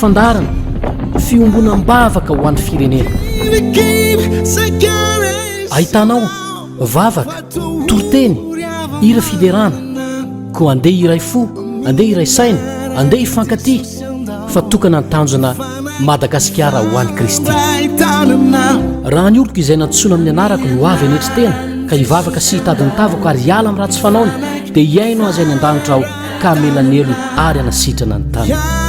Fandaharana, Fiombonam-bavaka ho an'ny firenena. Ahitana ao, vavaka, toriteny, hira fiderana. Koa andeha hiray fo, andeha hiray saina, andeha hifankatia, fa tokana ny tanjona Madagasikara ho an'i Kristy. Raha ny oloko izay nantsoina amin'ny anarako no avy hanetry tena, ka hivavaka sy hitady ny tavako ary hiala amin'ny ratsy fanaony, dia hihaino azy any an-danitra aho, ka amelanelony ary anasitrana ny taniny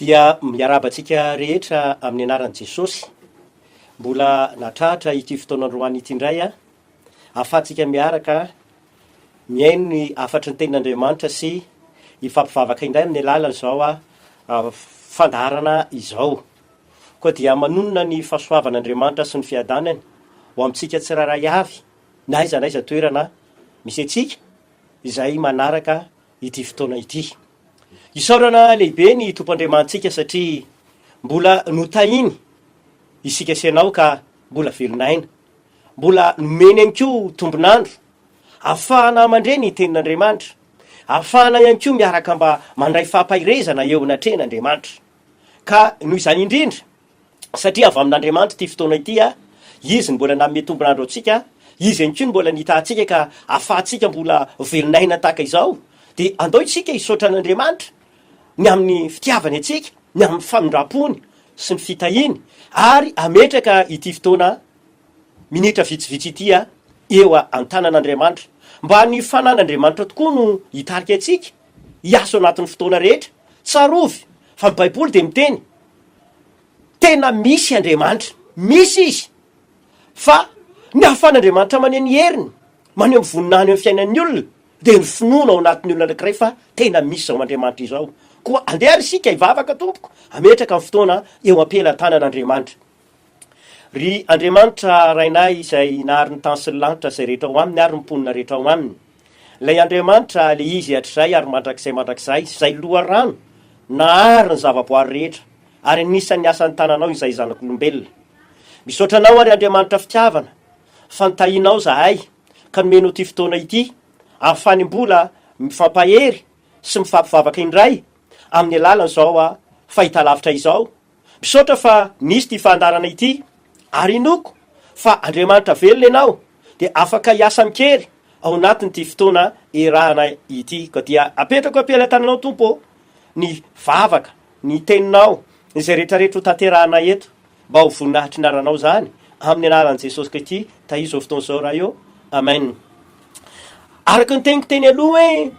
dia miarahaba antsika rehetra amin'ny anaran'i Jesosy mbola natratra ity fotoana androany ity indray a ahafahantsika miaraka mihaino ny hafatry ny tenin'Andriamanitra sy hifampivavaka indray amin'ny alalan'izao a fandaharana izao koa dia manonona ny fahasoavan'Andriamanitra sy ny fiadanany ho amintsika tsirairay avy na aiza na aiza toerana misy antsika izay manaraka ity fotoana ity. Isaorana lehibe ny Tompo Andriamanitsika satria mbola notahiny isika sy ianao ka mbola velon'aina. Mbola nomeny ihany koa tombon'andro afahana mandre ny tenin'Andriamanitra, afahana ihany koa miaraka mba mandray fampaherezana eo anatrehan'Andriamanitra. Ka noho izany indrindra satria avy amin'Andriamanitra ity fotoana ity, Izy no mbola nanome tombon'andro antsika, Izy ihany koa no mbola nitaha antsika ka ahafahantsika mbola velon'aina tahaka izao, dia andao isika hisaotra an'Andriamanitra ny amin'ny fitiavany antsika, ny amin'ny famindram-pony sy ny fitahiany, ary hametraka ity fotoana minitra vitsivitsy ity eo an-tanan'Andriamanitra, mba ny fanan'Andriamanitra tokoa no hitarika antsika hiasa ao anatin'ny fotoana rehetra, tsarovy fa ny Baiboly dia miteny Tena misy Andriamanitra, misy Izy, fa ny ahafahan'Andriamanitra maneho ny heriny, maneho ny voninahiny eo amin'ny fiainan'ny olona, dia ny finoana ao anatin'ny olona anankiray fa tena misy izao Andriamanitra izao. Koa andeha ary isika hivavaka tompoko, hametraka ny fotoana eo am-pelatanan'Andriamanitra. Ry Andriamanitra Rainay izay nahary ny tany sy ny lanitra izay rehetra ao aminy ary ny mponina rehetra ao aminy, Ilay Andriamanitra, ilay izy hatrizay ary mandrakizay mandrakizay, izay loharano nahary ny zavaboary rehetra, ary anisan'ny asan'ny tananao izahay zanak'olombelona. Misaotra anao ary Andriamanitra fitiavana, fa nitahianao izahay, ka nomenao ity fotoana ity, ahafany mbola mifampahery sy mifampivavaka indray, amin'ny alalan'izao fahitalavitra izao, Misaotra fa misy ity fandaharana ity ary inoako fa Andriamanitra velona ianao dia afaka hiasa amin-kery ao anatin'ity fotoana iarahana ity. Koa dia apetrako am-pelatananao Tompo ô ny vavaka, ny teninao, izay rehetrarehetra hotanterahana eto mba ho voninahitr'i naranao izany amin'ny anaran'i Jesosy Kristy tahirizao fotoana izao Ray ô. Amen. Araka ny teniko teny aloha hoe.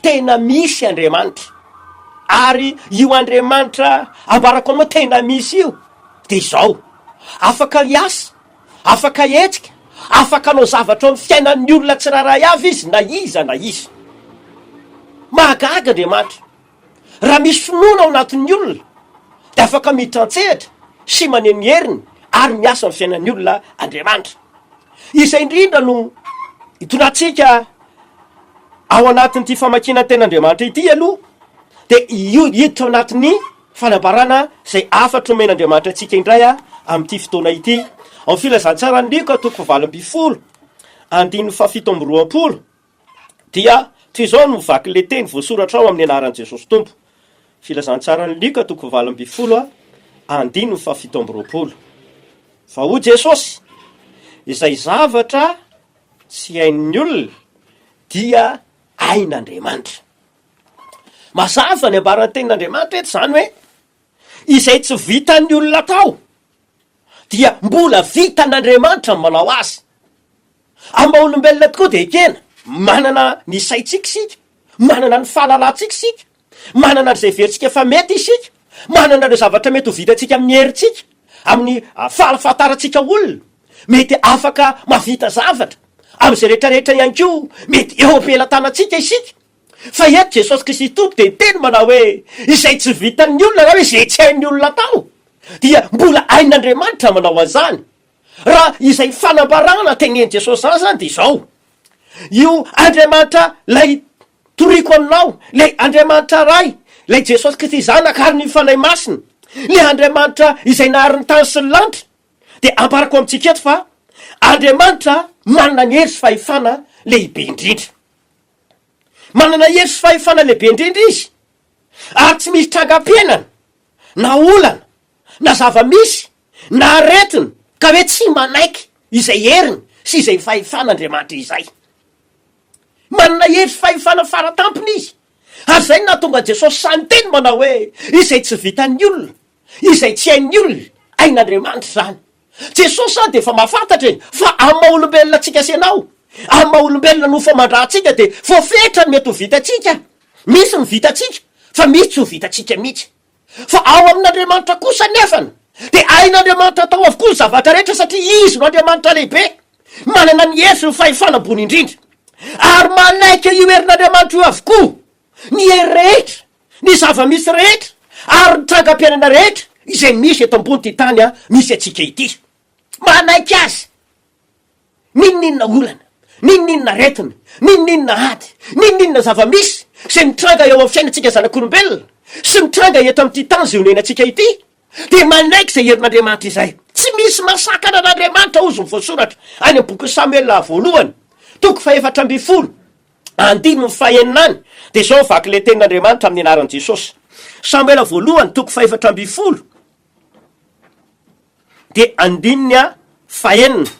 Tena misy Andriamanitra. Ary io Andriamanitra ambarako anao tena misy io dia izao, afaka hiasa, afaka hihetsika, afaka hanao zavatra eo amin'ny fiainan'ny olona tsirairay avy izy na iza na iza. Mahagaga Andriamanitra. Raha misy finoana ao anatin'ny olona dia afaka miditra an-tsehatra sy maneho ny heriny ary miasa amin'ny fiainan'ny olona Andriamanitra. Izay indrindra no itondratsika Ao anatin'ity famakiana ny tenin'Andriamanitra ity aloha dia hiditra ao anatin'ny fanambarana izay hafatra nomen'Andriamanitra antsika indray amin'ity fotoana ity. Ao amin'ny filazantsaran'i Lioka toko fahavalo ambin'ny folo andininy fahafito amby roapolo dia toy izao no vakin'ilay teny voasoratra ao amin'ny anaran'i Jesosy Tompo. Filazantsaran'i Lioka toko fahavalo ambin'ny folo andininy fahafito amby roapolo. Fa hoy Jesosy, izay zavatra Tsy hain'ny olona dia hain'Andriamanitra. Mazava ny ambaran'ny tenin'Andriamanitra eto izany hoe izay tsy vitan'ny olona atao dia mbola vitan'Andriamanitra ny manao azy. Amin'ny maha olombelona tokoa dia ekena, manana ny saintsika isika, manana ny fahalalantsika isika, Manana an'izay heverintsika fa mety isika, manana ireo zavatra mety ho vitantsika amin'ny herintsika, amin'ny fahafantarantsika olona, mety afaka mahavita zavatra, amin'izay rehetrarehetra ihany koa mety eo am-pelatanantsika isika. Fa eto Jesosy Kristy Tompo dia niteny manao hoe, izay tsy vitan'ny olona na hoe izay tsy hain'ny olona atao dia mbola hain'Andriamanitra manao an'izany. Raha izay fanambarana tenenin'i Jesosy izany izany dia izao, io Andriamanitra ilay Toriko aminao, ilay Andriamanitra Ray, ilay Jesosy Kristy Zanaka ary ny Fanahy Masina, ilay Andriamanitra izay nahary ny tany sy ny lanitra, dia ambarako amintsika eto fa Andriamanitra manana ny hery sy fahefana lehibe indrindra. Manana hery sy fahefana lehibe indrindra Izy, ary tsy misy trangam-piainana, na olana, na zava-misy, na aretina, ka hoe tsy manaiky izay heriny sy izay fahefan'Andriamanitra izay. Manana hery sy fahefana fara tampony izy, ary izay no nahatonga Jesosy sahy niteny manao hoe, Izay tsy vitan'ny olona, izay tsy hain'ny olona, hain'Andriamanitra izany. Jesosy zany dia efa mahafantatra e, fa amin'ny maha olombelona antsika sy ianao, amin'ny maha olombelona nofo aman-dRatsika dia voafetra ny mety ho vitantsika, misy ny vitantsika fa misy tsy ho vitantsika mihitsy. Fa ao amin'Andriamanitra kosa anefany dia hain'Andriamanitra atao avokoa ny zavatra rehetra satria Izy no Andriamanitra lehibe, manana ny hery sy ny fahefana ambony indrindra. Ary manaiky io herin'Andriamanitra io avokoa ny hery rehetra, ny zava-misy rehetra ary ny trangam-piainana rehetra izay misy eto ambony ity tany misy antsika ity. Manaiky azy. N'inon'inona olana, n'inon'inona aretina, n'inon'inona ady, n'inon'inona zava-misy izay mitranga eo amin'ny fiainantsika zanak'olombelona sy mitranga eto amin'ity tany izay onenan-tsika ity dia manaiky izay herin'Andriamanitra izay. Tsy misy mahasakana an'Andriamanitra hozy ny voasoratra any amin'ny bokin'i Samoela voalohany toko fahefatra ambin'ny folo andininy fahenina any dia izao ny vaky ilay tenin'Andriamanitra amin'ny anaran'i Jesosy. Samoela voalohany toko fahefatra ambin'ny folo Dia andininy a fahenina,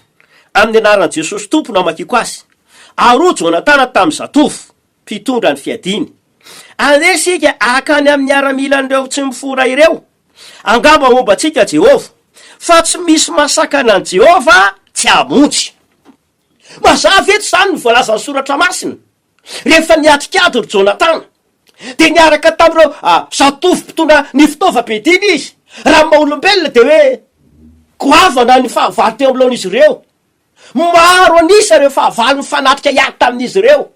Amin'ny anaran'i Jesosy Tompo no amakiako azy. Aroa Jonatana tamin'ny zatovo mpitondra ny fiadiany. Andeha isika hankany amin'ny miaramilan'ireo tsy mifora ireo. Angamba homba antsika Jehovah. Fa tsy misy mahasakana an'i Jehovah tsy hamonjy. Mazava eto izany ny voalazan'ny Soratra Masina. Rehefa niatrika ady ry Jonatana, dia niaraka tamin'ireo zatovo mpitondra ny fitaovam-piadiana izy. Raha ny maha-olombelona, dia hoe goavana ny fahavalo teo anoloan'izy ireo. Maro an'isa ireo fahavalo nifanatrika hiady tamin'izy ireo.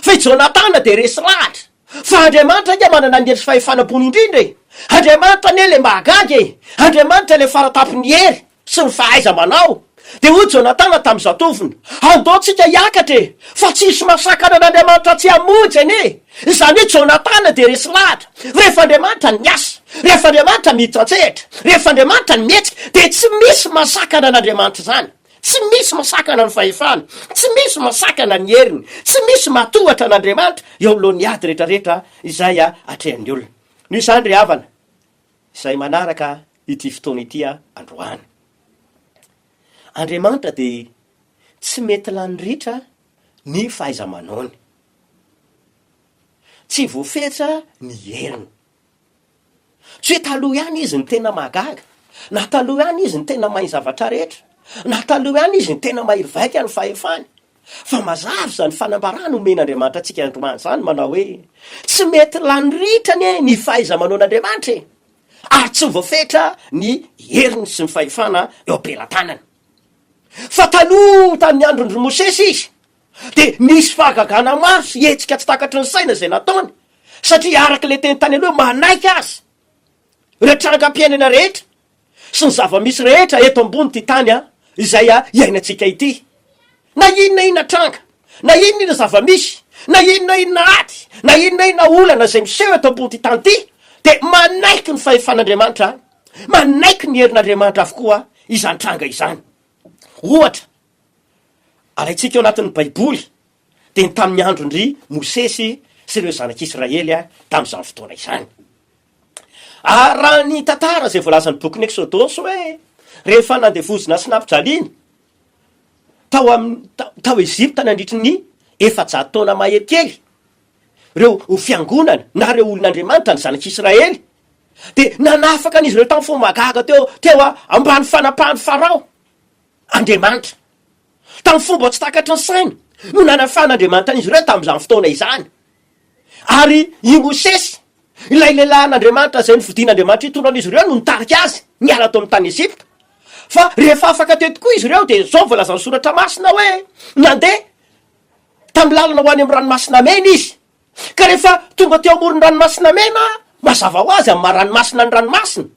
Fa i Jonatana dia resy lahatra. Fa Andriamanitra ange manana ny hery sy fahefana ambony indrindra e! Andriamanitra anie ilay mahagaga e! Andriamanitra ilay fara tampon'ny hery! sy ny fahaiza-manao, dia hoy Jonatana tamin'ny zatovony, Andao tsika hiakatra e! fa tsy hisy masakana an'Andriamanitra tsy hamonjy anie! Izany hoe Jonatana dia resy lahatra, rehefa Andriamanitra no miasa, rehefa Andriamanitra miditra an-tsehatra, rehefa Andriamanitra no mihetsika, dia tsy misy masakana an'Andriamanitra izany, tsy misy masakana ny fahefany, tsy misy masakana ny heriny, tsy misy matohatra an'Andriamanitra eo anoloan'ny ady rehetra rehetra izay atrehan'ny olona. Noho izany ry havana, izay manaraka ity fotoana ity androany. Andriamanitra dia tsy mety lany ritra ny fahaiza-manaony. Tsy voafetra ny heriny. Tsy hoe taloha ihany izy no tena mahagaga, na taloha ihany izy no tena mahay zavatra rehetra, na taloha ihany izy no tena mahery vaika ny fahefany. Fa mazava izany fanambarana omen'Andriamanitra antsika androany izany manao hoe, Tsy mety lany ritra anie ny fahaiza-manaon'Andriamanitra e! Ary tsy voafetra ny heriny sy ny fahefana eo am-pelatanany. Fa taloha tamin'ny andron-dry Mosesy izy, dia nisy fahagagana maro sy hetsika tsy takatry ny saina izay nataony, satria araka ilay teny tany aloha, manaiky azy ireo trangam-piainana rehetra sy ny zava-misy rehetra eto ambonin'ity tany izay iainantsika ity. Na inona inona tranga, na inona inona zava-misy, na inona inona ady, na inona inona olana izay miseho eto ambonin'ity tany ity, dia manaiky ny fahefan'Andriamanitra, manaiky ny herin'Andriamanitra avokoa izany tranga izany. Ohatra, alaintsika ao anatin'ny Baiboly dia ny tamin'ny andron-dry Mosesy sy ireo zanak'Israely tamin'izany fotoana izany. Ary raha ny tantara izay voalazan'ny bokin'ny Eksodosy hoe rehefa nandevozina sy nampijaliana tao amin'ny tao Ezipta nandritry ny efajato taona mahery kely ireo ho fiangonana na ireo olon'Andriamanitra ny zanak'Israely dia nanafaka an'izy ireo tamin'ny fomba gaga teo teo ambany fanapahan'i Farao. Andriamanitra. Tamin'ny fomba tsy takatry ny saina no nanafan'Andriamanitra an'izy ireo tamin'izany fotoana izany. Ary i Mosesy, ilay lehilahin'Andriamanitra izay nofidin'Andriamanitra hitondra an'izy ireo no nitarika azy niala tao amin'ny tany Egypta. Fa rehefa afaka teo tokoa izy ireo dia izao voalazan'ny soratra masina hoe, nandeha tamin'ny lalana ho any amin'ny ranomasina mena izy. Ka rehefa tonga teo amoron'ny ranomasina mena, mazava ho azy amin'ny maha ranomasina ny ranomasina.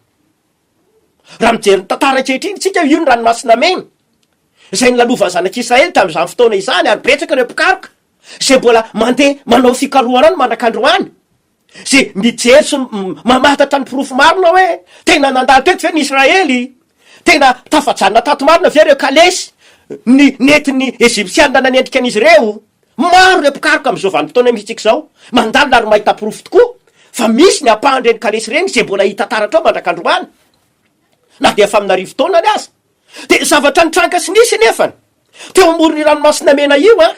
Raha mijery ny tantara ankehitriny isika, io ny ranomasina mena izay nilalovan' ny Zanak' Israely tamin' izany fotoana izany, ary betsaka ireo mpikaroka izay mbola mandeha manao fikarohana any mandraka androany, izay mijery sy mamantatra ny porofo marina hoe tena nandalo teto ve ny Israely? Tena tafajanona tato marina ve ireo kalesy ny nentin' ny Ejipsiana nanendrika an' izy ireo? Maro ireo mpikaroka amin'izao vanim-potoana imintsika izao mandalina ary mahita porofo tokoa fa misy ny ampahan'ireny kalesy ireny izay mbola hita taratra ao mandrak'androany na dia efa amin'arivo taona any aza. Dia zavatra nitranga sy nisy anefany, teo amoron'io Ranomasina Mena io an,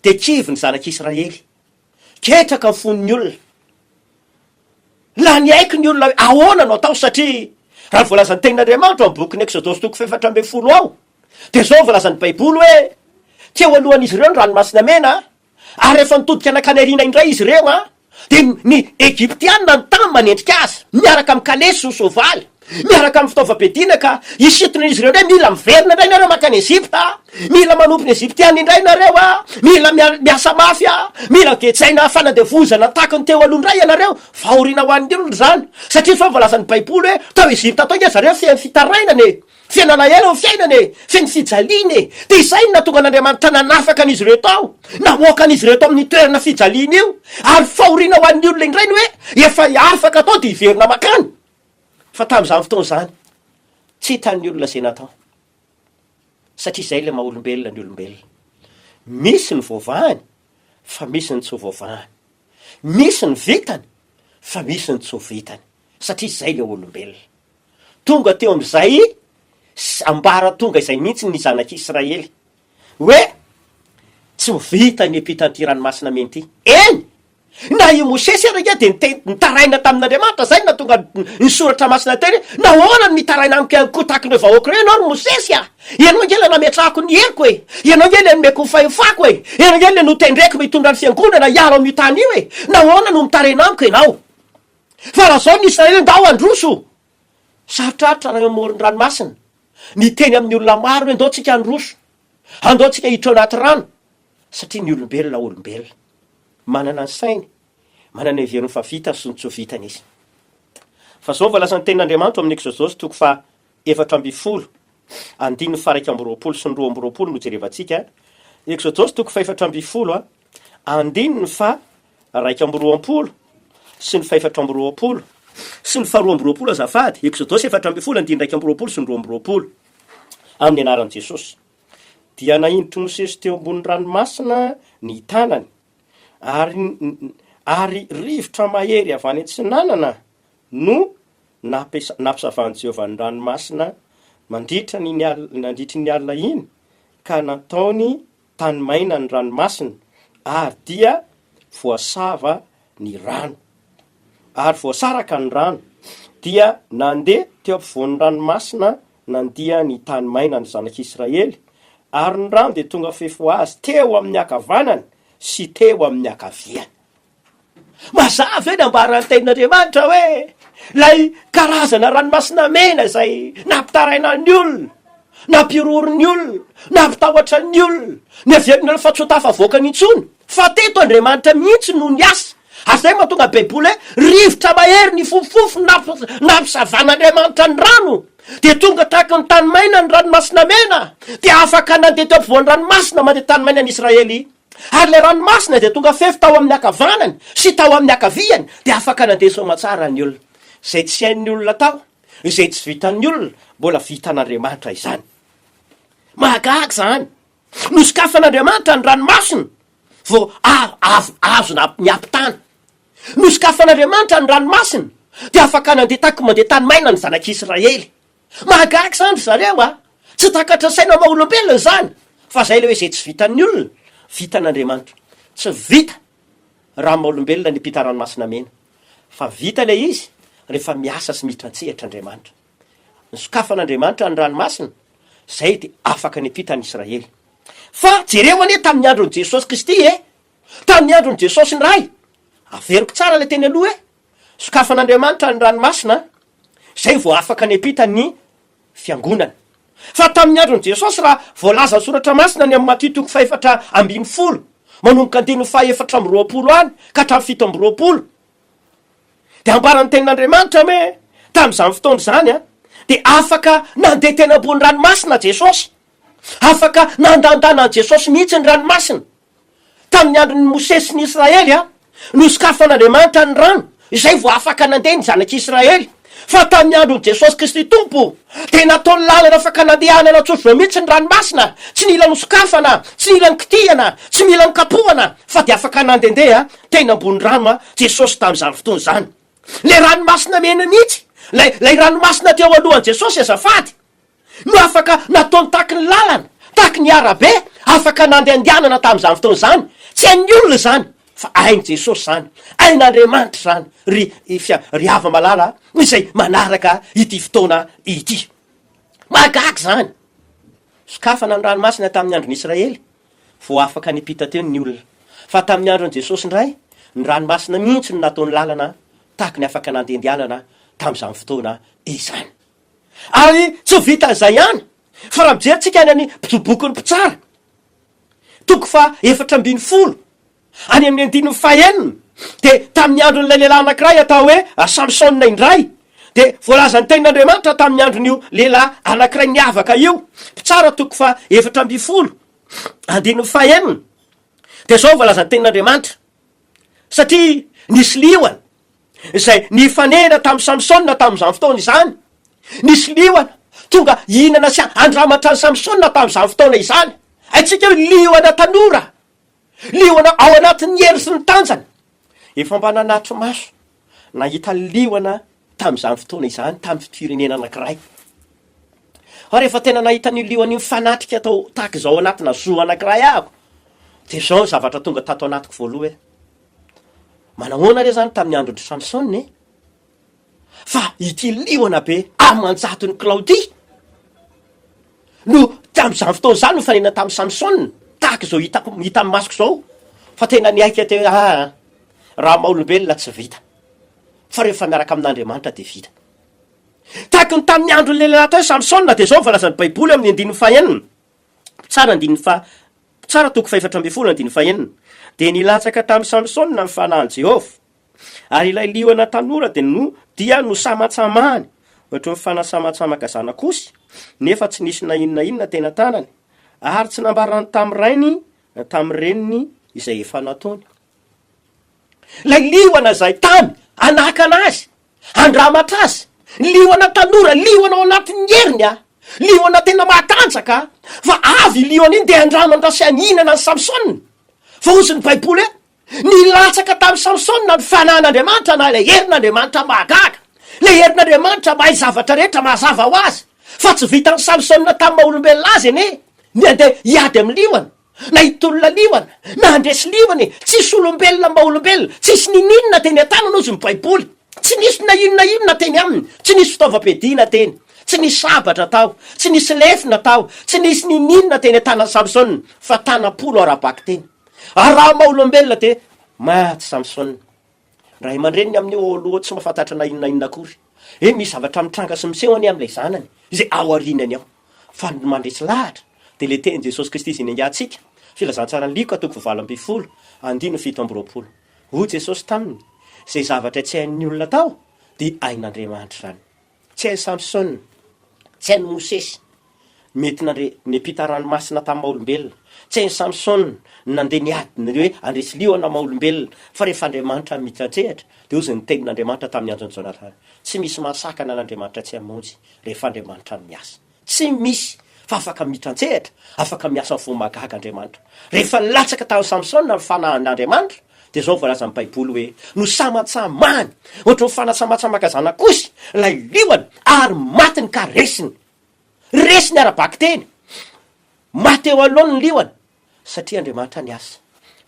dia kivy ny zanak'Israely. Ketraka ny fon'ny olona. Lany haiky ny olona hoe ahoana no atao satria raha ny voalazan'ny Tenin'Andriamanitra ao amin'ny bokin'ny Eksodosy toko fahefatra ambin'ny folo ao dia izao no voalazan'ny Baiboly hoe teo alohan'izy ireo ny Ranomasina Mena ary rehefa nitodika nankany aoriana indray izy ireo dia ny Egyptiana nitahy ny manendrika azy miaraka amin'ny kalesy sy ny soavaly. miaraka amin'ny fitaovam-piadiana ka hisintona izy ireo indray, mila miverina indray nareo makany Egypta, mila manompo ny Egyptiana indray nareo a, mila miasa mafy a, mila gejaina fanandevozana taky ny teo aloha indray ianareo, fahoriana ho an'ny olona izany, satria tsy hoe voalazan' ny baiboly hoe tao Egypta tao nge zareo feno fitarainana e, feno alahelo ny fiainana e, feno fijaliana e, dia izay no nahatonga an' Andriamanitra nanafaka an' izy ireo tao, namoaka an' izy ireo tao amin'ny toerana fijaliana io, ary fahoriana ho an'ny olona indray ny hoe efa afaka tao dia hiverina makany. Fa tamin'izany fotoana izany, tsy hitan'ny olona izay natao, satria izay ilay maha-olombelona ny olombelona. Misy ny voavahany, fa misy ny tsy ho voavahany. Misy ny vitany, fa misy ny tsy ho vitany, satria izay ilay olombelona. Tonga teo amin'izay ambaratonga izay mihitsy ny zanak'Israely, hoe tsy ho vita ny epitra anty ranomasina mena ity. Eny! Na i Mosesy ary ange dia niteny, nitaraina tamin'Andriamanitra izay no nahatonga ny soratra masina hiteny hoe, Nahoana no mitaraina amiko ihany koa tahaka ireo vahoaka ireo ianao ry Mosesy a! Ianao ange ilay nametrahako ny heriko e! Ianao ange ilay nomeko ny fahefako e! Ianao ange ilay notendreko mba hitondra ny fiangonana hiaro an'io tany io e! Nahoana no mitaraina amiko ianao? Fa lazao ny Israely hoe, Ndao handroso! Sarotrarotra raha eo amoron-dranomasina ny hiteny amin'ny olona maro hoe andao tsika handroso, andao tsika hiditra ao anaty rano, satria ny olombelona olombelona. Manana ny sainy, manana ny heveriny fa vitany sy ny tsy ho vitany izy. Fa izao voalaza ny tenin'Andriamanitra ao amin'ny Eksodosy toko faha efatra ambin'ny folo andininy faha iraika amby roapolo sy ny roa amby roapolo no jerevantsika, Eksodosy toko faha efatra ambin'ny folo andininy faha iraika amby roapolo sy ny fahefatra amby roapolo sy ny faharoa amby roapolo azafady, Eksodosy efatra ambin'ny folo andininy iraika amby roapolo sy ny roa amby roapolo, Amin'ny anaran'i Jesosy. Dia nahinditr'i Mosesy teo ambonin'ny ranomasina ny tanany, ary, ary rivotra mahery avy any atsinanana no nampiasa, nampisavan'i Jehovah ny ranomasina mandritra ny, nandritry ny alina iny, ka nataony Tany maina ny ranomasina, ary dia voasava ny rano. Ary voasaraka ny rano, dia nandeha teo ampovoan'ny ranomasina nandia ny tany maina ny zanak'Israely, ary ny rano dia tonga fefy ho azy teo amin'ny ankavanany sy teo amin'ny ankaviany. Mazava ve ny ambaran'ny tenin'Andriamanitra hoe ilay karazana ranomasina mena izay nampitaraina ny olona, nampihorohoro ny olona, nampitahotra ny olona, niavian'ny olona fa tsy ho tafavoakany intsony? Fa teto Andriamanitra mihitsy no niasa, ary izay no mahatonga Baiboly hoe rivotra mahery nifofofofo no nampisavan'Andriamanitra ny rano, dia tonga tahaka ny tany maina ny ranomasina mena, dia afaka nandeha teo ampovoan'ny ranomasina mandeha tany maina ny Israely. Ary ilay ranomasina dia tonga fefy tao amin'ny ankavanany sy tao amin'ny ankaviany, dia afaka nandeha soa aman-tsara ny olona. Izay tsy hain'ny olona atao, izay tsy vitan'ny olona, mbola vitan'Andriamanitra izany. Mahagaga izany! Nosokafan'Andriamanitra ny ranomasina vao avy azo niampitana. Nosokafan'Andriamanitra ny ranomasina, dia afaka nandeha taky mandeha tany maina ny zanak'Israely. Mahagaga izany ry zareo a! Tsy takatra saina maha olombelona izany, fa izay ilay hoe izay tsy vitan'ny olona, vitan'Andriamanitra. Tsy vita raha amin'ny maha olombelona ny mpita ranomasina mena, fa vita ilay izy rehefa miasa sy miditra an-tsehatra Andriamanitra. Nosokafan'Andriamanitra ny ranomasina, izay dia afaka ny mpita ny Israely. Fa jereo anie tamin'ny andron'i Jesosy Kristy e! Tamin'ny andron'i Jesosy indray, averiko tsara ilay teny aloha e! Sokafan'Andriamanitra ny ranomasina, izay vao afaka niampita ny Fiangonana. Fa tamin'ny andron'i Jesosy, raha voalazan'ny Soratra Masina any amin'ny Matio toko fahefatra ambin'ny folo, manomboka andininy fahefatra amby roapolo any ka hatramin'ny fito amby roapolo, dia ambaran'ny Tenin'Andriamanitra hoe tamin'izany fotoana izany dia afaka nandeha teny ambony ranomasina Jesosy. Afaka nandandanan'i Jesosy mihitsy ny ranomasina. Tamin'ny andron'i Mosesy sy ny Israely, nosokafan'Andriamanitra ny rano, izay vao afaka nandeha ny zanak'Israely. Fa tamin'ny andron'i Jesosy Kristy Tompo, dia nataony lalana afaka nandehana natsofoka mihitsy ny ranomasina, tsy nila nosokafana, tsy nila nikitihana, tsy mila nikapohana, fa dia afaka nandehandeha teny ambony rano Jesosy tamin'izany fotoana izany. Ilay ranomasina mena mihitsy, ilay, ilay ranomasina teo alohan'i Jesosy azafady. no afaka nataony tahaky ny lalana, tahaky ny arabe afaka nandehandehanana tamin'izany fotoana izany, tsy hain'ny olona izany fa hain'i Jesosy izany, hain'Andriamanitra izany ry Fia, ry hava-malala izay manaraka ity fotoana ity. Mahagaga izany. Sokafana ny ranomasina tamin'ny andron'ny Israely vao afaka niampita teo ny olona. Fa tamin'ny andron'i Jesosy indray, ny ranomasina mihitsy no nataony lalana tahaky ny afaka nandehandehanana tamin'izany fotoana izany. Ary tsy vitan'izay ihany, fa raha mijery tsika any amin'ny boky ny mpitsara, toko faha efatra ambin'ny folo, any amin'ny andininy faha enina, dia tamin'ny andron'ilay lehilahy anankiray atao hoe Samsona indray, dia voalazan'ny tenin'Andriamanitra tamin'ny andron'io lehilahy anankiray niavaka io, mpitsara toko faha efatra ambin'ny folo, andininy faha enina, dia izao no voalazan'ny tenin'Andriamanitra, Satria nisy liona, izay nifanena tamin'i Samsona tamin'izany fotoana izany. Nisy liona tonga hihinana sy handramatra an'i Samsona tamin'izany fotoana izany. Haintsika hoe liona tanora, liona ao anatin'ny hery sy ny tanjany. Efa mba nanatri-maso nahita liona tamin'izany fotoana izany tamin'ny firenena anankiray. Fa rehefa tena nahita an'io liona io fanatrika tao tahaka izao anatina zoo anankiray ahako, dia izao ny zavatra tonga tato anatiko voalohany. Manahoana re izany tamin'ny andron-dry Samsona e? Fa ity liona be aman-jatony kilao ity no tamin'izany fotoana izany nofanena tamin'i Samsona, tahaka izao hitako hita amin'ny masoko izao fa tena niaiky teo hoe aa raha maha olombelona tsy vita fa rehefa miaraka amin'Andriamanitra dia vita. Tahaka ny tamin'ny andron'ilay lehilahy atao hoe Samsona dia izao no voalazan'ny Baiboly ao amin'ny andininy fahenina. Mpitsara andininy faha Mpitsara toko fahefatra ambin'ny folo andininy fahenina dia nilatsaka tamin'i Samsona ny fanahin'i Jehovah, ary ilay liona tanora dia no dia nosamatsamahany ohatry ny fanasamatsamaka zanak'osy, nefa tsy nisy na inona na inona teny an-tanany, ary tsy nambarany tamin'ny rainy na tamin'ny reniny izay efa nataony. Ilay liona izay tamy anakana azy Andramatra azy! Liona tanora, liona ao anatin'ny heriny a! Liona tena mahatanjaka a! Fa avy io liona io dia andramatra sy haninana an'i Samsona! Fa hozy ny baiboly hoe, Nilatsaka tamin'i Samsona ny fanan'Andriamanitra na ilay herin'Andriamanitra mahagaga, ilay herin'Andriamanitra mahay zavatra rehetra mazava ho azy, fa tsy vitan'i Samsona tamin'ny maha olombelona azy anie ny handeha hiady amin'ny liona. Na hitolona liona na handresy liona e! Tsisy olombelona mba olombelona, tsisy ninininona teny an-tanana ozy ny baiboly, tsy nisy na inona inona teny aminy, tsy nisy fitaovam-piadiana teny, tsy nisy sabatra tao, tsy nisy lefona tao, tsy nisy ninininona teny an-tanan'i Samsona fa tanam-polo ara-bakiteny. Ary raha maha olombelona dia maty Samsona. Ray aman-dreniny amin'ny eo aloha tsy mahafantatra na inona na inona akory. Eny, misy zavatra mitranga sy miseho anie amin'ilay zanany izay ao aorianany ao. Fa ny mandresy lahatra dia ilay tenin'i Jesosy Kristy izay niaingantsika, Filazantsaran'i Lioka toko valo ambin'ny folo, andininy fito amby roapolo. Hoy Jesosy taminy, Izay zavatra tsy hain'ny olona atao, dia hain'Andriamanitra izany. Tsy hain'i Samsona, tsy hain'i Mosesy ny mety nandre ny ampita ranomasina tamin'ny maha-olombelona. Tsy hain'i Samsona ny nandeha niady ny hoe handresy liona maha-olombelona. Fa rehefa Andriamanitra mitratrehatra, dia hozy ny tenin'Andriamanitra tamin'ny andron'i Jonatana, Tsy misy mahasakana an'Andriamanitra tsy hamonjy, rehefa Andriamanitra miasa. Tsy misy fa afaka miditra an-tsehatra, afaka miasa ny fo mahagaga Andriamanitra. Rehefa nilatsaka tamin'i Samsona ny fanahin'Andriamanitra, dia izao no voalazan'ny Baiboly hoe, Nosamatsamahany hoatry ny fanasamatsamaka zanak'osy ilay liona, ary matiny ka resiny. Resiny ara-bakiteny. Maty eo anoloany ny liona, satria Andriamanitra niasa.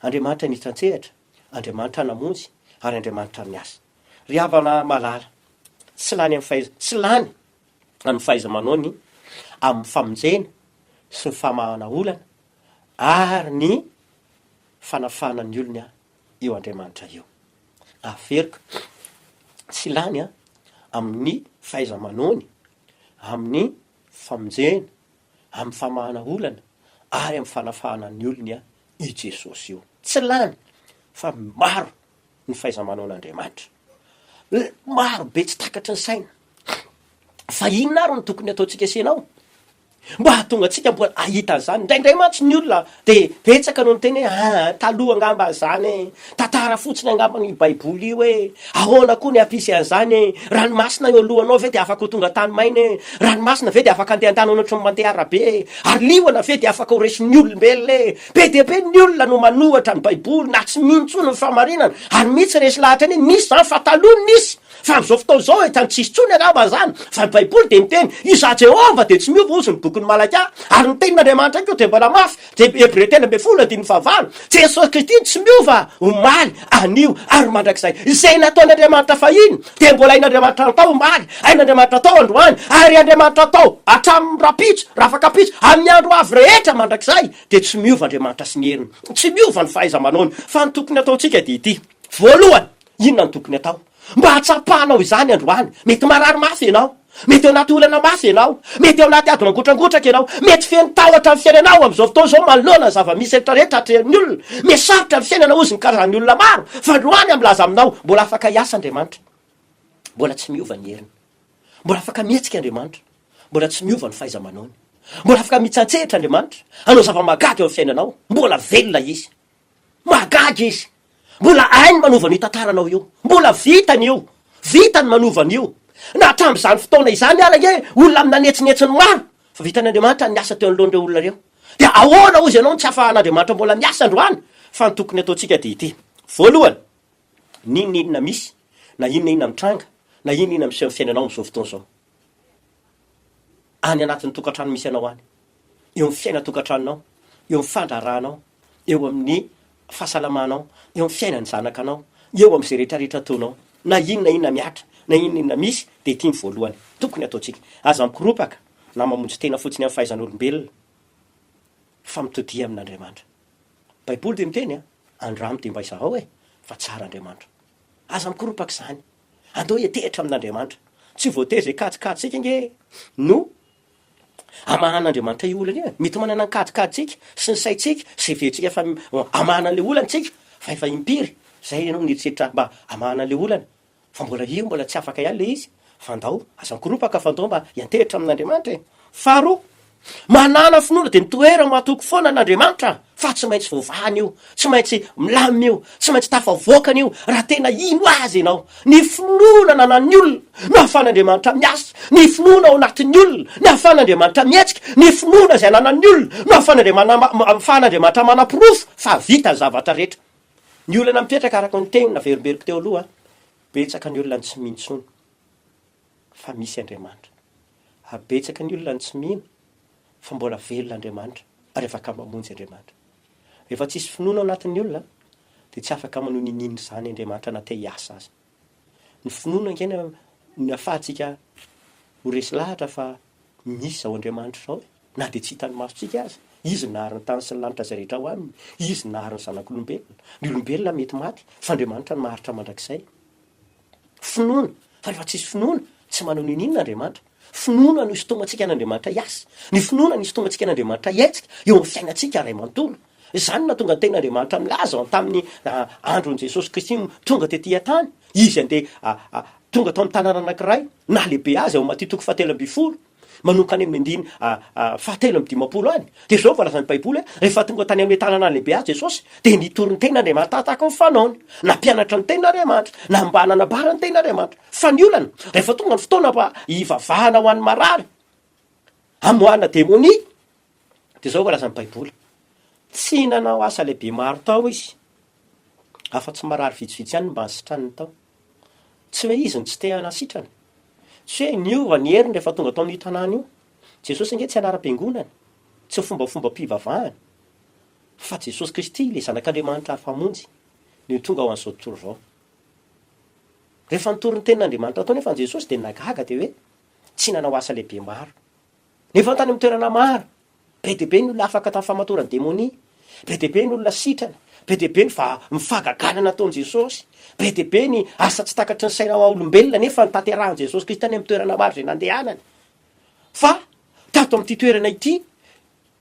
Andriamanitra niditra an-tsehatra, Andriamanitra namonjy, ary Andriamanitra niasa. Ry havana malala, tsy lany amin'ny fahaiza, tsy lany amin'ny fahaiza-manaony amin'ny famonjena sy ny famahana olana ary ny fanafahana ny olona eo Andriamanitra eo. Averiko, tsy lany amin'ny fahaiza-manaony amin'ny famonjena, amin'ny famahana olana ary amin'ny fanafahana ny olona i Jesosy io. Tsy lany fa maro ny fahaiza-manaon'Andriamanitra. Maro be tsy takatry ny saina fa inona ary no tokony hataontsika sy ianao mba hahatonga antsika mba hahita an'izany. Indraindray mantsy ny olona dia betsaka no miteny hoe ah, taloha angamba izany e, tantara fotsiny angamba io Baiboly io e, ahoana koa ny hampisy an'izany e, ranomasina eo alohanao ve dia afaka ho tonga tany maina e, ranomasina ve dia afaka handeha an-tany hoan'ohatry ny mandeha arabe e, ary liona ve dia afaka ho resin'ny olombelona e, Be dia be ny olona no manohatra ny baiboly na tsy mino intsony ny fahamarinana ary mihi tsy resy lahatra anie nisy zany fa taloha nisy fa amzao fotoana zao efa tsis tsony angamba zany fa ny baiboly dia miteny izaho jehovah dia tsy miova ozy ny bokin'i malakia ary ny tenin'andriamanitra koa dia mbola mafy dia hebreo telo ambin'ny folo andininy fahavalo jesosy kristy no tsy miova omaly anio ary mandrakizay. Izay nataon'Andriamanitra fahiny dia mbola hain'Andriamanitra hatao omaly, hain'Andriamanitra hatao androany, ary Andriamanitra hatao hatramin'ny rahampitso, rafakapitso, amin'ny andro ho avy rehetra mandrakizay, dia tsy miova Andriamanitra sy ny heriny, tsy miova ny fahaiza-manaony, fa ny tokony hataontsika dia ity, voalohany, inona no tokony hatao? Mba hatsapanao izany androany. Mety marary mafy ianao. Mety ao anaty olana mafy ianao. Mety ao anaty ady mangotrangotraka ianao. Mety feno tahotra ny fiainanao amin'izao fotoana izao manoloana ny zava-misy rehetra rehetra atrehon'ny olona. Mety sarotra ny fiainana hozy ny karazan'ny olona maro. Fa androany aho milaza aminao, mbola afaka hiasa Andriamanitra. Mbola tsy miova ny heriny. Mbola afaka mihetsika Andriamanitra. Mbola tsy miova ny fahaiza-manaony. Mbola afaka mitsantsehatra Andriamanitra, hanao zava-mahagaga eo amin'ny fiainanao. Mbola velona Izy. Mahagaga izy. Mbola hainy manova an'io tantara anao io. Mbola vitany io. Vitany manova an'io. Na hatramin'izany fotoana izany ary ange olona nanetsinetsy ny maro fa vitan' Andriamanitra ny asa teo anoloan'ireo olona ireo. Dia ahoana hozy ianao no tsy ahafahan'Andriamanitra mbola miasa androany? Fa ny tokony ataontsika dia ity, voalohany, n'inona inona misy, na inona inona mitranga, na inona inona miseho amin'ny fiainanao amin'izao fotoana izao, any anatin'ny tokantrano misy anao any, eo amin'ny fiainan-tokantranonao, eo amin'ny fandraharahanao, eo amin'ny fahasalamanao, eo amin'ny fiainan'ny zanakanao, eo amin'izay rehetrarehetra ataonao. Na inona na inona mihatra, na inona na inona misy, dia ity ny voalohany tokony hataontsika. Aza mikoropaka na mamonjy tena fotsiny amin'ny fahaizan'olombelona, fa mitodia amin'Andriamanitra. Baiboly dia miteny, Andramo dia mba izahao e, fa tsara Andriamanitra. Aza mikoropaka izany. Andao hiantehitra amin'Andriamanitra. Tsy voatery izay kajikajintsika ange no Hamahan'Andriamanitra io olana io e! Mety manana ny kajikajintsika sy ny saintsika sy heverentsika fa hamahana an'ilay olana isika fa efa impiry izay ianao nieritreritra mba hamahana an'ilay olana fa mbola io mbola tsy afaka ihany ilay izy fa ndao aza mikoropaka fa ndao mba hiantehitra amin'Andriamanitra e! Faharoa, manana finoana dia mitoera-matoky foana an'Andriamanitra. fa tsy maintsy voavahana io, tsy maintsy milamina io, tsy maintsy tafavoakany io raha tena hino Azy ianao. Ny finoana ananan'ny olona no ahafahan'Andriamanitra miasa, ny finoana ao anatin'ny olona no ahafahan'Andriamanitra mihetsika, ny finoana izay ananan'ny olona no ahafahan'Andriamanitra manaporofo fa vita ny zavatra rehetra. Ny olana mipetraka araka ny teny naverimberiko teo aloha, betsaka ny olona no tsy mino intsony. fa misy Andriamanitra. Ary betsaka ny olona no tsy mino fa mbola velona Andriamanitra ary afaka mamonjy Andriamanitra. Rehefa tsisy finoana ao anatin'ny olona dia tsy afaka manohy ny ninin' izany Andriamanitra na te hiasa aza. Ny finoana ange no ahafahantsika ho resy lahatra fa misy izao Andriamanitra izao e! Na dia tsy hitan'ny masontsika aza. Izy nahary ny tany sy ny lanitra izay rehetra ao aminy. Izy nahary ny zanak'olombelona. Ny olombelona mety maty fa Andriamanitra no maharitra mandrakizay. Finoana, fa rehefa tsisy finoana, tsy manao n'inon'inona Andriamanitra. Finoana no isintomantsika an'Andriamanitra hiasa. Ny finoana no isintomantsika an'Andriamanitra hiaitsika eo amin'ny fiainantsika iray manontolo. Izany no nahatonga ny Tenin'Andriamanitra nilaza ao tamin'ny andron'i Jesosy Kristy tonga tetỳ an-tany, izy andeha tonga tao amin'ny tanàna anankiray, nahalehibe azy, ao Matia toko fahatelo ambin'ny folo. manomboka any amin'ny andiny fahatelo amby dimampolo any, dia izao no voalazan'ny Baiboly hoe, Rehefa tonga tany amin'ilay tanàna lehibe azy Jesosy, dia nitory ny teniny Andriamanitra tahaka ny fanaony. Nampianatra ny teniny Andriamanitra, na mba nanambara ny teniny Andriamanitra. Fa ny olana, rehefa tonga ny fotoana mba hivavahana ho an'ny marary, hamoahana demonia, Dia izao voalaza ny Baiboly, Tsy nanao asa lehibe maro tao izy, afa-tsy marary vitsivitsy ihany no mba nisitraniny tao. Tsy hoe izy no tsy te hanasitrana. Tsy hoe niova ny heriny rehefa tonga tao amin'io tanàna io. Jesosy ange tsy anaram-piangonana, tsy fombafombam-pivavahana, fa Jesosy Kristy, ilay Zanak'Andriamanitra Afamonjy, no tonga ho an'izao tontolo izao. Rehefa nitory ny tenin'Andriamanitra tao anefa Jesosy dia nahagaga dia hoe tsy nanao asa lehibe maro. Nefa tany amin'ny toerana maro, be dia be ny olona afaka tamin'ny famatoran'ny demonia, be dia be ny olona sitrana, be dia be ny va- ny fahagagana nataon'i Jesosy, be dia be ny asa tsy takatry ny saina maha-olombelona nefa notanterahin'i Jesosy Kristy tany amin'ny toerana maro izay nandehanany. Fa tato amin'ity toerana ity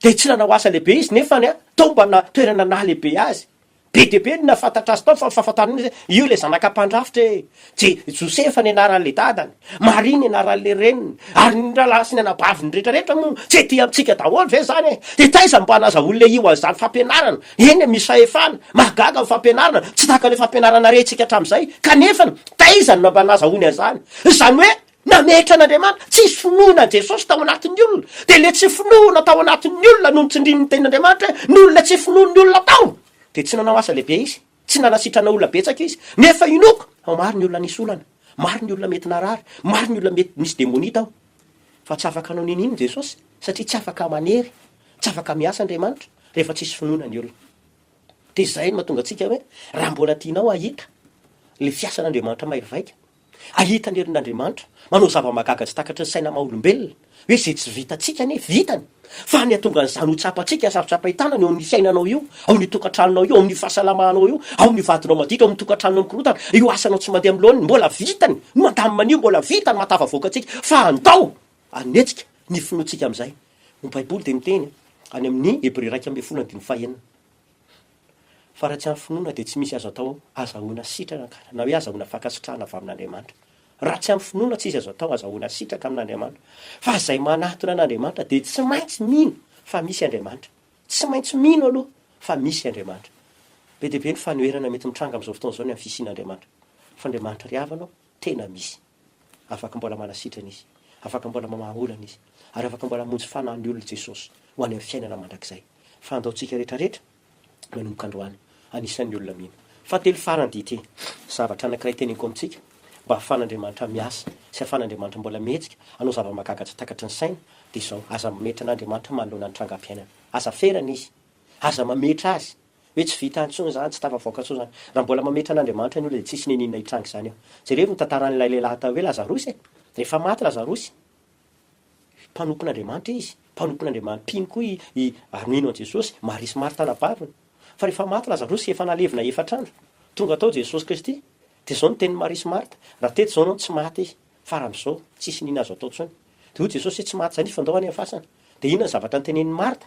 dia tsy nanao asa lehibe Izy, nefa ny a, tao mba na toerana nahalehibe Azy. Be dia be ny nahafantatra azy tao fa ny fahafantarana azy hoe io ilay zanaka mpandrafitra e! Je, Josefa ny anaran'ilay dadany, Maria ny anaran'ilay reniny, ary ny rahalahy sy ny anabaviny rehetra rehetra moa tsy ety amintsika daholo ve izany e! Dia taiza no mba hanaza olona io an'izany fampianarana? Eny e, misy fahefana, mahagaga ny fampianarana, tsy tahaka ilay fampianarana rentsika hatramin'izay, kanefany, taiza no mba nazahoany an'izany? Izany hoe, Nametra an'Andriamanitra. Tsy hisy finoana Jesosy tao anatin'ny olona. Dia ilay tsy finoana tao anatin'ny olona no nitsindriny ny tenin'Andriamanitra hoe, noho ilay tsy finoan'ny olona tao dia tsy nanao asa lehibe Izy. Tsy nanasitrana olona betsaka Izy. Nefa inoako fa maro ny olona nisy olana. Maro ny olona mety narary. Maro ny olona mety nisy demonia tao. Fa tsy afaka hanao n'inon'inona Jesosy satria tsy afaka manery, tsy afaka miasa Andriamanitra rehefa tsy hisy finoana ny olona. Dia izay no mahatonga antsika hoe raha mbola tianao hahita ilay fiasan'Andriamanitra mahery vaika, Ahita ny herin'Andriamanitra manao zava-mahagaga tsy takatry ny saina maha-olombelona, hoe izay tsy vitantsika anie vitany, fa ny hahatonga an'izany ho tsapantsika, sarotra am-pahitana, ny ao amin'ny fiainanao io, ao amin'ny tokantranonao io, ao amin'ny fahasalamanao io, ao amin'ny vadinao maditra, ao amin'ny tokantranonao mikorontana, io asanao tsy mandeha amin'ny laoniny, mbola vitany, no mandamina an'io, mbola vitany mahatafavoaka antsika, fa andao hanetsika ny finoantsika amin'izay. Ny Baiboly dia miteny, any amin'ny Hebreo iraika ambin'ny folo andininy fahenina, Fa raha tsy amin'ny finoana dia tsy misy azo atao azahoana sitrana angamba, na hoe azahoana fankasitrahana avy amin'Andriamanitra. Raha tsy amin'ny finoana tsy izy azo atao azahoana sitraka amin'Andriamanitra. Fa izay manatona an'Andriamanitra dia tsy maintsy mino fa misy Andriamanitra. Tsy maintsy mino aloha fa misy Andriamanitra. Be dia be ny fanoherana mety mitranga amin'izao fotoana izao ny amin'ny fisian'Andriamanitra. Fa Andriamanitra ry havana ô! Tena misy. Afaka mbola manasitrana Izy. Afaka mbola mamaha olana Izy. Ary afaka mbola hamonjy fanahy ny olona Jesosy, ho any amin'ny fiainana mandrakizay. Fa andaontsika rehetrarehetra, manomboka androany, anisan'ny olona mino. Fahatelo farany dia ity, zavatra anankiray teneniko amintsika, mba hahafahan'Andriamanitra miasa, sy hahafahan'Andriamanitra mbola mihetsika, hanao zava-mahagaga tsy takatry ny saina, dia izao, aza mametra an'Andriamanitra manoloana ny trangam-piainana. Aza ferana Izy. Aza mametra Azy. Hoe tsy vita intsony izany, tsy tafavoaka intsony izany. Raha mbola mametra an'Andriamanitra ny olona dia tsisy niniana hitranga izany eo. Jereo ny tantaran'ilay lehilahy atao hoe Lazarosy e! Rehefa maty Lazarosy, mpanompon'Andriamanitra izy, mpanompon'Andriamanitra, mpino koa i, i, ary mino an'i Jesosy, Maria sy Marta nabariny. Fa rehefa maty Lazarosy, efa nalevina efatra andro. Tonga tao Jesosy Kristy. Dia izao ny tenin'i Maria sy Marta, Raha teto izao ianao, tsy maty izy. Fara amizao tsisy nina azo atao tsony. De hoy Jesosy hoe tsy maty zany izy fa ndao any am fasana. De inona ny zavatra noteneniny Martha?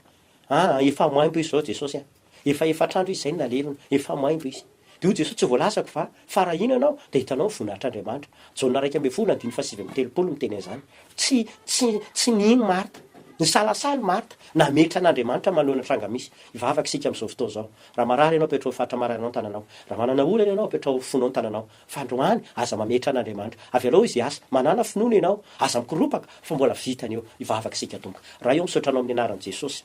Aa efa maimbo izy zao Jesosy a! Efa efatr'andro izy zay no nalelony, efa maimbo izy. De hoy Jesosy tsy voalazako va fa raha hino ianao de hitanao ny voninahitr'Andriamanitra. Jaona iraika ambin'ny folo andininy fahasivy amby telopolo no miteny an'izany. Tsy tsy tsy nino Martha. Nisalasala i Martha. Nametra an'Andriamanitra manoloana tranga misy. Hivavaka isika amizao fotoana izao. Raha marary ianao apetraho ny faritra mararinao ny tananao. Raha manana olana ianao apetraho fonao ny tananao. fandroany aza mametra an'Andriamanitra avelao izy hiasa manana finoana ianao aza mikoropaka fa mbola vitany eo hivavaka isika tompo Ray ô misaotra anao amin'ny anaran'i Jesosy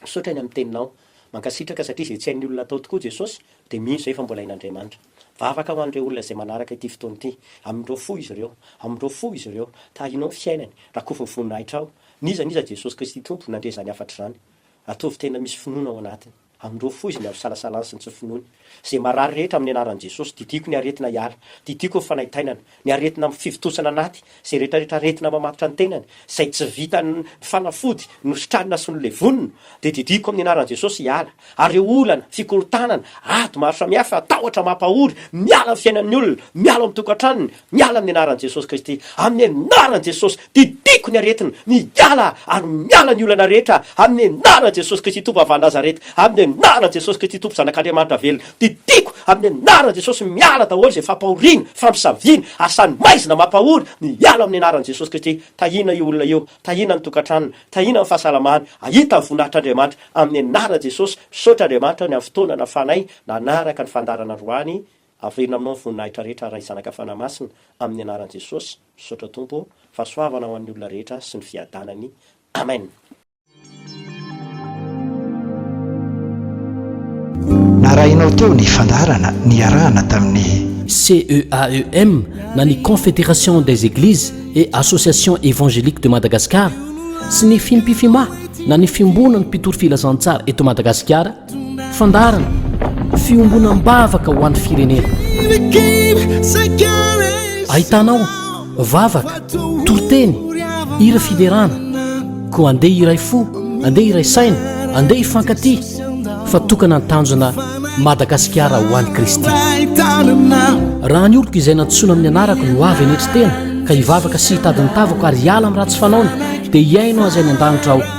misaotra ny amin'ny teninao mankasitraka satria izay tsy hain'ny olona atao tokoa Jesosy dia mino izay fa mbola hain'Andriamanitra mivavaka ho an'ireo olona izay manaraka ity fotoana ity amindro fo izy ireo amindro fo izy ireo tahinao ny fiainany rakofy ny voninahitrao n'iza n'iza Jesosy Kristy tompo nandre izany hafatr'izany ataovy tena misy finoana ao anatiny. Amin'ireo foiziny avy isalasalany sy ny tsy finoany. Izay marary rehetra amin'ny anaran'i Jesosy, didiako ny aretina hiala, didiako ny fanaintainana, ny aretina amin'ny fivontosana anaty, izay rehetrarehetra aretina mamatotra ny tenany, izay tsy vitan'ny fanafody nositranina sy nolevonina, dia didiako amin'ny anaran'i Jesosy hiala, ary ireo olana, fikorontanana, ady maro samihafa, tahotra mampahory, miala amin'ny fiainan'ny olona, miala ao amin'ny tokantranony, Miala amin'ny anaran'i Jesosy Kristy, amin'ny anaran'i Jesosy, didiako ny aretina, miala ary miala ny olana rehetra, amin'ny anaran'i Jesosy Kristy Tompo Vavah'i Nazareta, amin'ny anaran'i Jesosy Kristy Tompo Zanak'Andriamanitra velona, didiako amin'ny anaran'i Jesosy, miala daholo izay fampahoriana, fampisaviana, asan'ny maizina mampahory, miala amin'ny anaran'i Jesosy Kristy, tahiana io olona io, tahiana ny tokantranony, tahiana ny fahasalamany, ahita ny voninahitr'Andriamanitra, amin'ny anaran'i Jesosy, misaotra Andriamanitra ny amin'ny fotoana nafanay nanaraka ny fandaharana androany, Averina aminao ny voninahitra rehetra Ray Zanaka Fanahymasina amin'ny anaran'i Jesosy, misaotra Tompo ô, fahasoavana ho an'ny olona rehetra sy ny fiadanany Amen. Narahinao teo ny fandaharana niarahana tamin'ny. CEAEM na ny Confédération des Églises et Associations Évangéliques de Madagascar sy ny Fimpifima na ny Fiomboana ny Mpitory Filazantsara eto Madagasikara Fandaharana, Fiombonam-bavaka ho an'ny firenena. Ahitana ao, vavaka, toriteny, hira fiderana. Koa andeha hiray fo, andeha hiray saina, andeha hifankatia, fa tokana ny tanjona Madagasikara ho an'i Kristy. Raha ny oloko izay nantsoina amin'ny anarako no avy hanetry tena, ka hivavaka sy hitady ny tavako ary hiala amin'ny ratsy fanaony, dia hihaino azy any an-danitra aho,